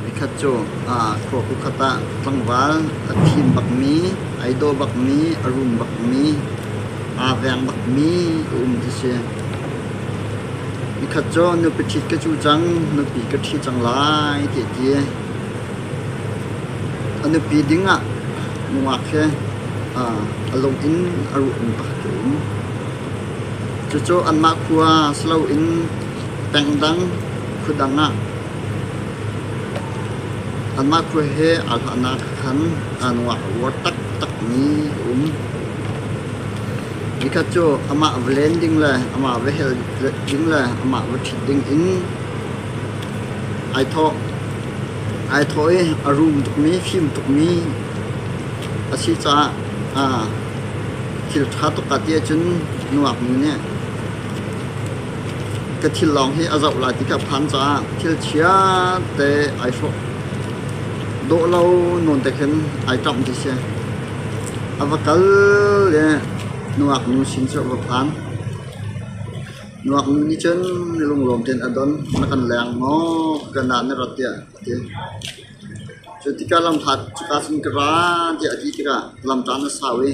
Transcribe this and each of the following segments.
Nikhat cu khua khuakhat ah tlangval a fim bakmi, ai daw bakmi, a rum bakmi, aa veng bakmi a um ti si. Nikhat cu nupi ṭhit ka cu cang, nupi ka ṭhi cang lai ti a ti. A nupi dingah nungak hi a lung in a ruahmi pakhat a um. Cucu anmah khua si loin Peng dang khua dang ah anmah khua he aa hlahnak khan aa nungak a uar taktakmi a um. Nikhat cu amah va len ding le amah va hel ding le amah va ṭhit ding in ai thawh. Ai thawh i a rum tukmi, fim tukmi a si caah aa thil ṭha tuk ati ahcun nungak nu nih Ka thil lawng hi a zoh lai ti ka phan caah thil chiate ai hrawh. Dawh lo nawn te khin ai ṭamh ti si. A va kal le nungak nu sin cu a va phan. Nungak nu nih cun lunglawm tein a don. Na kan leng maw? Kan ah na rat tiah a ti. Cu tikah lamhlat cuka cun ka ra tiah a ti tikah lamṭa na sau i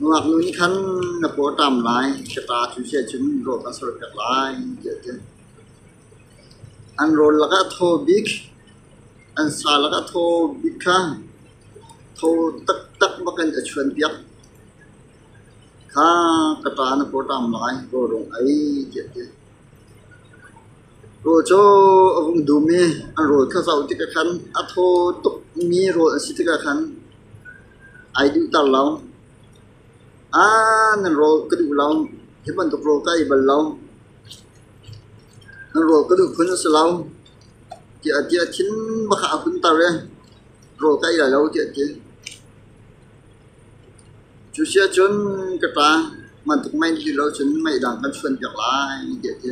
Ngaknu nih khan na pawṭam lai, ka ṭa thusiah cun rawp a sorpiak lai, tiah a ti. An rawl lakah thaw bik, an sa lakah thaw bik kha tho taktak bakin a chuanpiak. Kha ka ṭa na pawṭam lai, rawl rung ei, tiah a ti. Rawl cu a hung dum i an rawl kha zoh tikah khan, a thaw tukmi rawl a si tikah khan, Ai dinhter lo. Aa nan rawl ka duh lo. Hi bantuk rawl ka ei bal lo. Nan rawl ka duh phun a si lo. Tiah ti a thin bakah a hunter i rawl ka ei lai lo tiah a ti. Cu si ahcun ka ṭa bantuk mei hi lo cun mei dang kan chuan piak lai tiah a ti.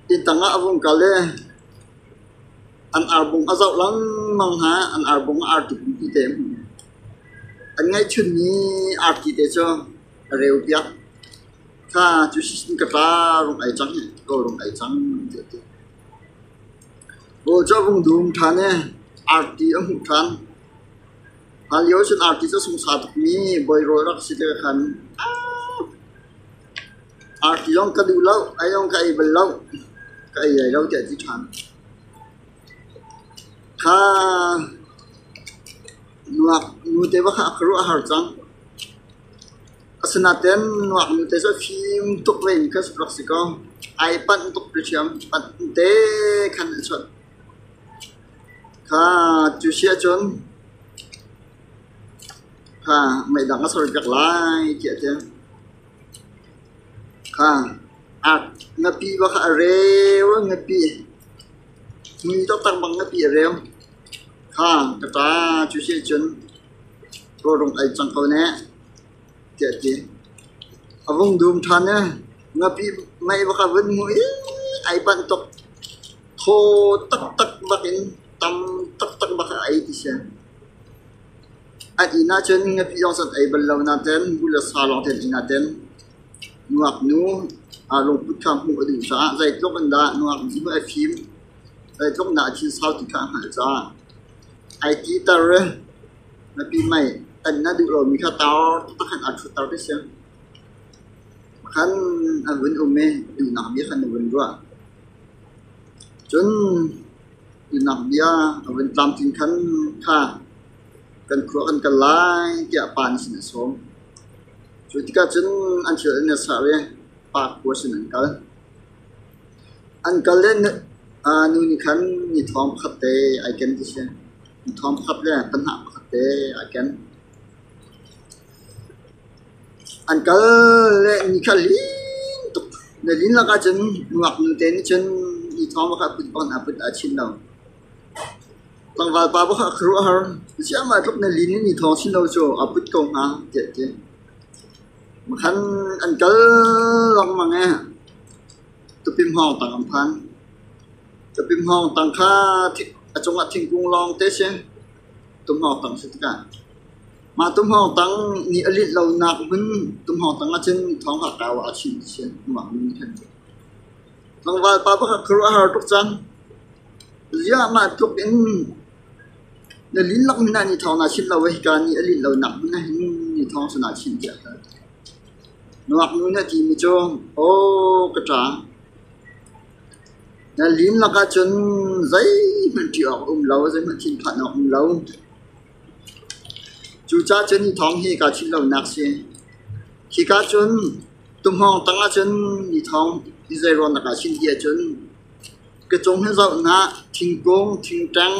Hi tang ah a vung kal i an arbung a zoh lengmang hna. An arbung a arti pi te. An ngeihchunmi arti te cu a reu piak. Kha cu sishin ka tla rung ai cang i kaw rung ai cang an ti a ti. Pawl cu a vung dum ṭhan i arti a hmuh ṭhan. Hlan lio cun arti cu a sungsa tukmi bawi rawl rak si te khan a Arti zong ka duh lo, ei zong ka ei bal lo, ka ei lai lo tiah a ti ṭhan. Kha nuak nute va kha a ka ruah a har cang. Asinaten nuak nute cu a fim tuk ve mi kha rak si kaw ai panh tuk ti hriam, panh te khan a chunh. Kha cu si ahcun kha meidang a sor piak lai tiah a ti. Na pi va kha a reu in na pi, mui taktak bang na pi a reu. Ka pa cu si ahcun rawhrung ei cang ko ne, tiah a ti. A vung dum ṭhan i na pi mei va kha a vun hmuh i ai panh tuk. Thaw taktak bak in tam taktak bak a ei ti si. An inn ahcun ngapi zong cu an ei bal lo nain nu le sa lawng an inn ah tel. Ngaknu lungput kha hmuh a duh caah zeitluk in dah nungak nih a fim, zeitluk in dah a thinsau ti kha a hngalh caah ai titer i ngapi mei tan na duh lomi kha tar taktak in aa ṭhutter ti a si. Pakhat an vun um i duhnak bia kha an vun ruah. Cun Innang bia a vun tlamtling khan kha kan khua kan kal lai tiah pa nih sin a sawm. Cu tikah cun an thil an i serh i pa khua sin an kal. An kal i nu nih khan ni thong pakhat te ai ken ti a si. Ni thong pakhat le panhnah pakhat te ai ken. An kal le ni kha hling tuk. Na din lakah cun ngaknu te nih cun ni thawng pakhat put bang a put a chin lo. Tlangvalpa pakhat khuaruahhar, ziahmah tluk na lin i ni thawng sin lo cu a put ko hnga tiah a ti. Makhan an kal lengmang i tapim hawngtang an phan. Tapim hawngtang kha a cungah thingkung lawng te si. Tum hawngtang si tikah. Mah tumhawngtang nih a linh lonak hmun tumhawngtang ahcun thawngha kau ah a chimchian hnuah min khan a uk. Tlangval pa pakhat khuaruahhar tuk cang. Ziahmah tluk in na linlak hmun ah ni thawng naa chimh lo i hika ni a linh lonak hmun ahhin ni thawng sana chim tiah ka ti. Nuaknu nih a timi cu "Aw ka ṭa, na linlak ahcun zeihmanh ṭih awk a um lo, zeihmanh thinphan awk a um lo. Cucaah cun thawng hi kaa theih lonak a si. Khika cun tumhawng tang ahcun mi thawng hi zei rawn ah dah chim ti ahcun ka cung hi zoh hna thingkung, thingṭang,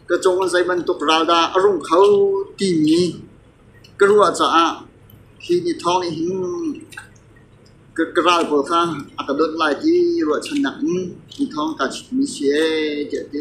ka cung in zei bantuk ral dah a rung kho timi ka ruah caah hi ni thawng nih hin ka ka ral pawl kha a ka dawt lai ti ruahchannak in ni thawng kaa chimmi a si ee tiah a ti.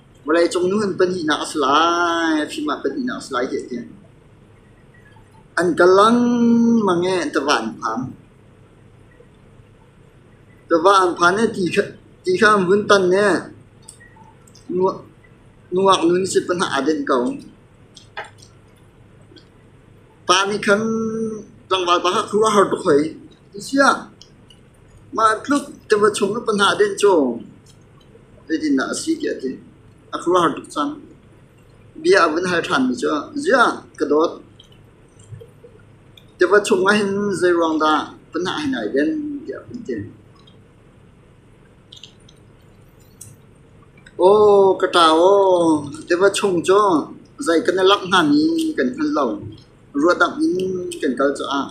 Vawleicung nu an pahnihnak a si lai, a fim ah pahnihnak a si lai hih ti an. An kal lengmang i tiva an phan. Tiva an phan i ti kha, ti kha an vun tan i nuak, nuak nu nih si pahnih aa denh ko. Pa nih khan tlangval pa kha khuh a har tuk hoi. Ti si ah, Mah tluk tiva chung na pa hnah dinh cu zeitindah a si tiah a ti. A khuaruahhar tuk cang. Bia a vun hal ṭhanmi cu, “Ziah, ka dawt, tiva chungah hin zeiruang dah pa hnah hi nai den?” tiah a vun ti. “Aw, ka ṭa aw, tiva chung cu zei ka na langh hngami kan hngal lo. Ruahdamh in kan kal caah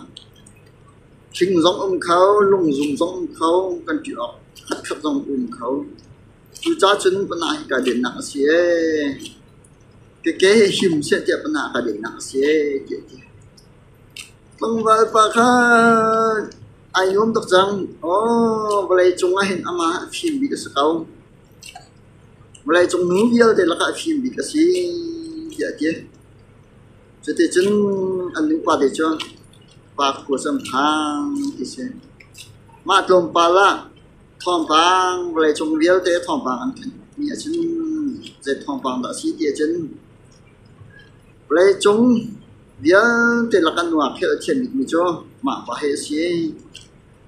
thing zong um kho, lungzum zong um kho, kan ṭih awk khatkhat zong um kho. Cucacun panah hi kaa dennak a si ee. Keke hi him seh tiah panah kaa dennak a si ee, tiah a ti. Tlangval pa khan ai nuam tuk cang. Aw, vawleicung ah hin amah a fim bik a si ko. Vawleicung nu vialte lakah a fim bik a si, tiah a ti. Cuticun an lungpate cu park khua cu an phang ti a si. Mah tlawmpal ah thawngpang vawleicung vialte thawngpang an thanh ahcun zei thawngpang dah a si ti ahcun vawleicung vialte lak ah nuam khel a thiam bikmi cu mah pa hi a si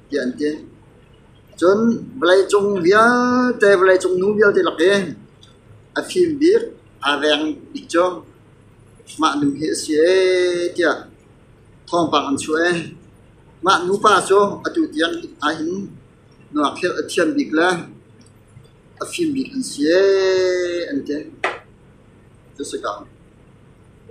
tiah an ti. Cun vawleicung vialte vawleicung nu vialte lak i a fim bik, a reng bik cu Mah nu hi a si ee tiah thawngpang an chuah ee. Mah nupa cu atu tiang ahhin nuakhleuh a thiam bik le a fim bik an si ee an ti. Cu a si ko.